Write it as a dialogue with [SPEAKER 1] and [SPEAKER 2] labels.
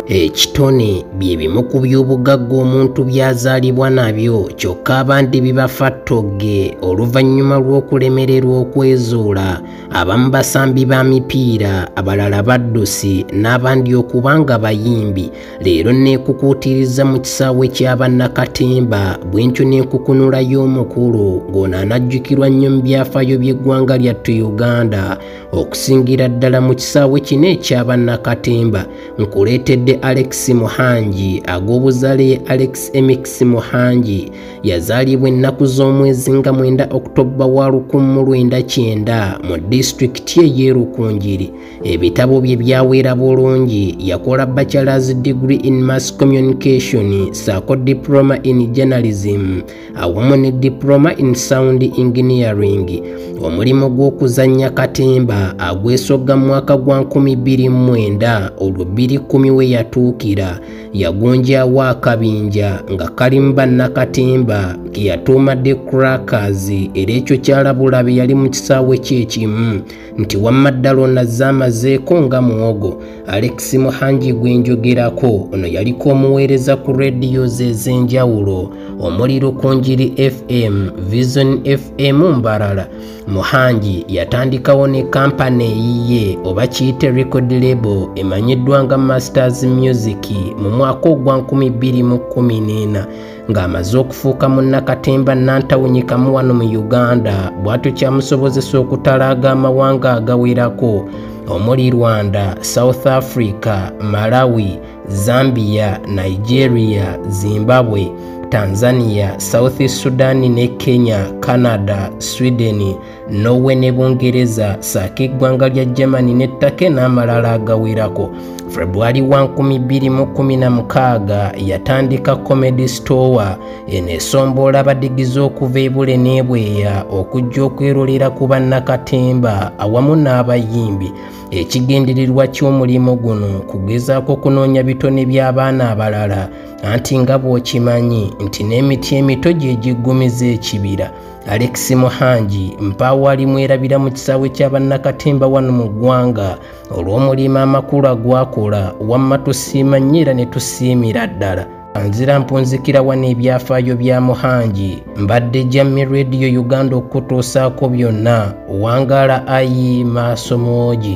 [SPEAKER 1] ekitone bye bimu ku by'obugagga omuntu by'azaalibwa nabyo kyokka abandi bibafa ttogge oluvannyuma lw'okulemererwa okwezuula abamu basambi ba mipiira abalala baddusi n'abandi okuba nga bayimbi leero neekukuutiriza mu kisaawe kya bannakatemba bwentyo n'enkukunula y'omukulu ng'ono anajjukirwa nnyo mu byafaayo by'eggwanga lyattu uganda okusingira ddala mu kisaawe kino ekya bannakatemba nkuleetedde alex muhangi ag'obuzaale ye alex emix muhangi yazaalibwa ennaku z'omwezi nga mwenda okutobba wa lukumu lwenda kyenda mu disitulikiti ey'erukungiri ebitabo bye byawera bulungi yakola bachelors degree in mass communication saako diploma in journalism awamu ne diploma in sound engineering omulimu gw'okuzannya katemba agwesogga mu mwaka gwa 229 olwo 210 we yatuukira yagunjawo akabinja nga kalimu bannakatemba ke yatuuma the crackers era ekyo kyalabula be yali mu kisaawe kyekimu nti wamma ddala onazze amazeeko nga muwogo alex muhangi gwe njogerako ono yaliko omuweereza ku rediyo ze ez'enjawulo omuli lukunjiri fm vision fm mbarala muhangi yatandikawo ne kampani eyiye oba kiyite record label emanyiddwa nga masters music mu mwaka ogwa 214 ng'amaze okufuuka munnakatemba nnantawunyikamu wano mu uganda bw'atyo kyamusobozesa okutalaaga amawanga agawerako omuli rwanda south africa malawi zambia nigeria zimbabwe tanzania south sudan ne kenya canada sweden norway ne bungereza saako eggwanga lya germany ne take n'amalala agawerako februari wa 216 yatandika comedy store eno esomboola abadigize okuva ebule n'ebweya okujja okwerolera ku bannakatemba awamu n'abayimbi ekigendererwa ky'omulimu guno kugezaako kunoonya bitone by'abaana abalala anti nga bw'okimanyi nti n'emiti emito gye giggumiza ekibira Alex Muhangi mpaawo ali mwerabira mu kisaawe kya bannakatemba wano mu ggwanga olw'omulimu amakulu agwakola wamma tusiima nnyo era ne tusiimira ddala anzira mpunzikira wano ebyafaayo bya muhangi mbadde jammi rediyo uganda okukutuusaako byonna wangaala ayi maaso mwogi